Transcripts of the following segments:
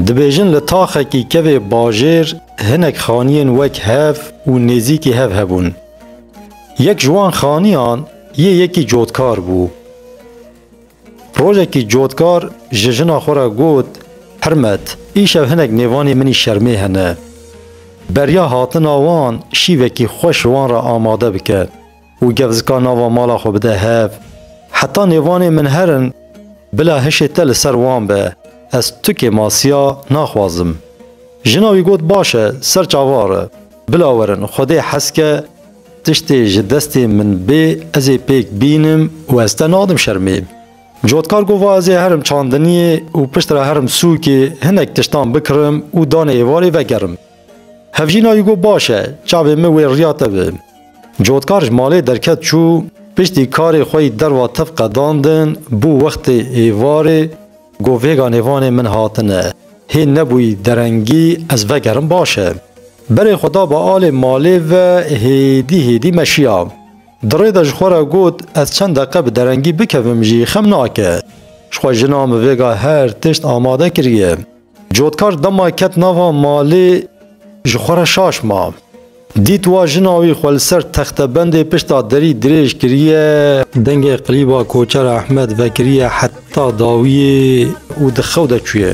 Dibêjin li taxekî kevê bajêr hinek xaniyên wek hev û nêzîkî hev hebûn. Yek ji wan xaniyan yê yekî cotkar bû. Rojekî cotkar ji jina xwe re got, Hirmet, îşev hinek nêvanê min î şermê hene. Beriya hatina wan şîvekî xweş ji wan re amade bike. û gef zika nava mala xwe bide hev. Heta nêvanê min her in, bila hişê te li ser wan be, ez tukê masiya naxwazim. Jina wî got baş e, ser çavar e, bila werin, xwedê heske tiştê ji destê min bê ez ê pêk bînim û ez te nadim şermê. Cotkar got va ez ê herim çandiniyê û piştre herim sûkê hinek tiştan bikirim û danê êvarê vegerim. Hevjîna wî got baş e, çavên min wê riya te bi. Cotkar ji malê derket çû, piştî karê xwe yî derva tev qedandin, bû wextê êvarê, got vêga nêvanê min hatine, hê nebûyî derengî ez vegerim baş e. Berê xwe da bi alê malê ve hêdî hêdî meşiya. Di rê de ji xwe re got ez çend deqe bi derengî bikevim jî xem nake. Ji xwe jina min vêga her tişt amade kiriye. Cotkar dema ket nava malê ji xwe re şaş ma. Dît wa jina wî xwe li ser textebendê pişta derî dirêj kiriye. Dengê qilîba Koçer Ehmed vekiriye heta dawiyê û di xew de çûye.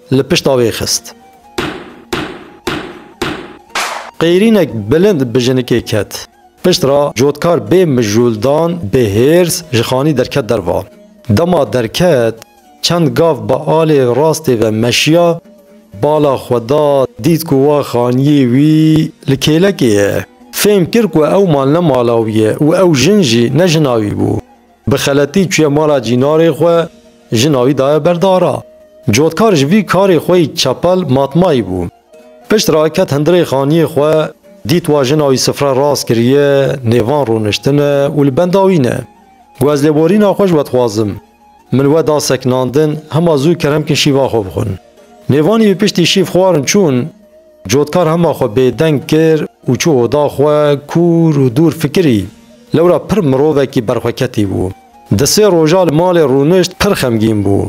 li pişta wê xist. Qeyrînek bilind bi jinikê ket. Pişt re cotkar bê mijûldan, bê hêrs ji xanî derket derva. Dema derket, çend gav bi alê rastê ve meşiya, bala xwe da, dît ku wa xaniyê wî li kêlekê ye. Fêm kir ku ew mal ne mala wî ye û ew jin jî ne jina wî bû. Bi xeletî çûye mala cînarê xwe, jina wî daye ber dara. Cotkar ji vî karê xwe yî çepel matmayî bû. Pişt re ket hundirê xaniyê xwe, dît wa jina wî sifre rast kiriye, nêvan rûniştine û li benda wî ne. Guezlêborîna xwe ji we dixwazim. Min we da sekinandin, hema zû kerem kin şîva xwe bixwin. Nêvanî bi piştî şîv xwarin çûn. Cotkar hema xwe bêdeng kir û çû oda xwe, kûr û dûr fikirî. Lewra pir mirovekî berxweketî bû. Di sê roja li malê rûnişt pir xemgîn bû.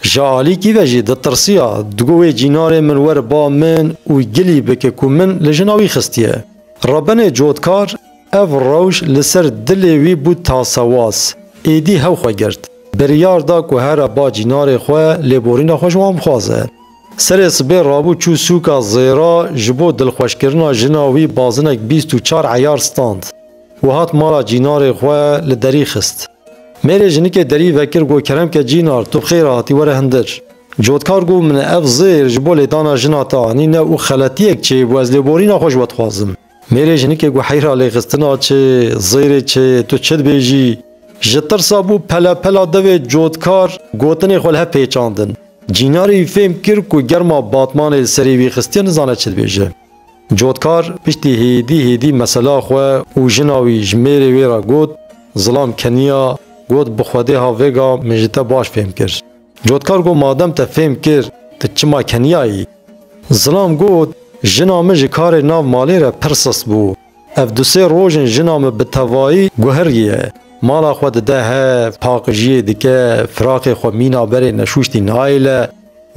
Ji alîkî ve jî ditirsiya, digot wê cînarê min were ba min û gilî bike ku min li jina wî xistiye. Rebenê Cotkar ev rewş li ser dilê wî bû tasewaz. Êdî hew xwe girt. Biryar da ku here ba cînarê xwe lêborîna xwe ji wan bixwaze. Serê sibê rabû çû sûka zêra ji bo dilxweşkirina jina wî bazinek bîst û çar eyar stand û hat mala cînarê xwe li derî xist. Mêrê jinikê derî vekir got kerem ke cînar tu xêr hatî were hindir. Cotkar got min ev zêr ji bo lêdana jina te anîne û xeletiyek çêbû ez lêborîna xwe ji we dixwazim. Mêrê jinikê ku heyra lêxistina çi, zêrê çi, tu çi dibêjî? Ji tirsa bû pelepela devê cotkar gotinê xwe li hev pêçandin. Cînarî fêm kir ku germa batmanê li serê wî xistiye nizane çi dibêje. Cotkar piştî hêdî hêdî mesela xwe û jina wî ji mêrê wê re got, zilam keniya, got bi xwedê ha vêga min ji te baş fêm kir. Cotkar got madem te fêm kir tu çima keniyayî? Zilam got jina min ji karê nav malê re pir sist bû. Ev du sê roj in jina min bi tevayî guhiriye. Mala xwe dide hev, paqijiyê dike, firaxê xwe mîna berê neşûştî nayêle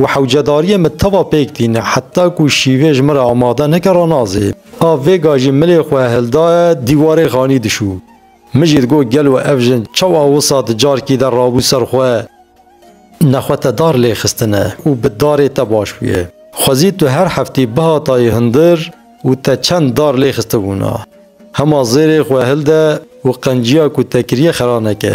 û hewcedariyê min teva pêk tîne heta ku şîvê ji min re amade neke ranazê. A vêga jî milê xwe hildaye dîwarê xanî dişû. Min jî digot gelo ev jin çawa wisa di carkî de rabû ser xwe ne xwe te dar lê xistine û bi darê te baş bûye. Xwezî tu her heftî bihatayî hundir û te çend dar lê xistibûna. Hema zêrê xwe hilde û qenciya ku te kiriye xera neke.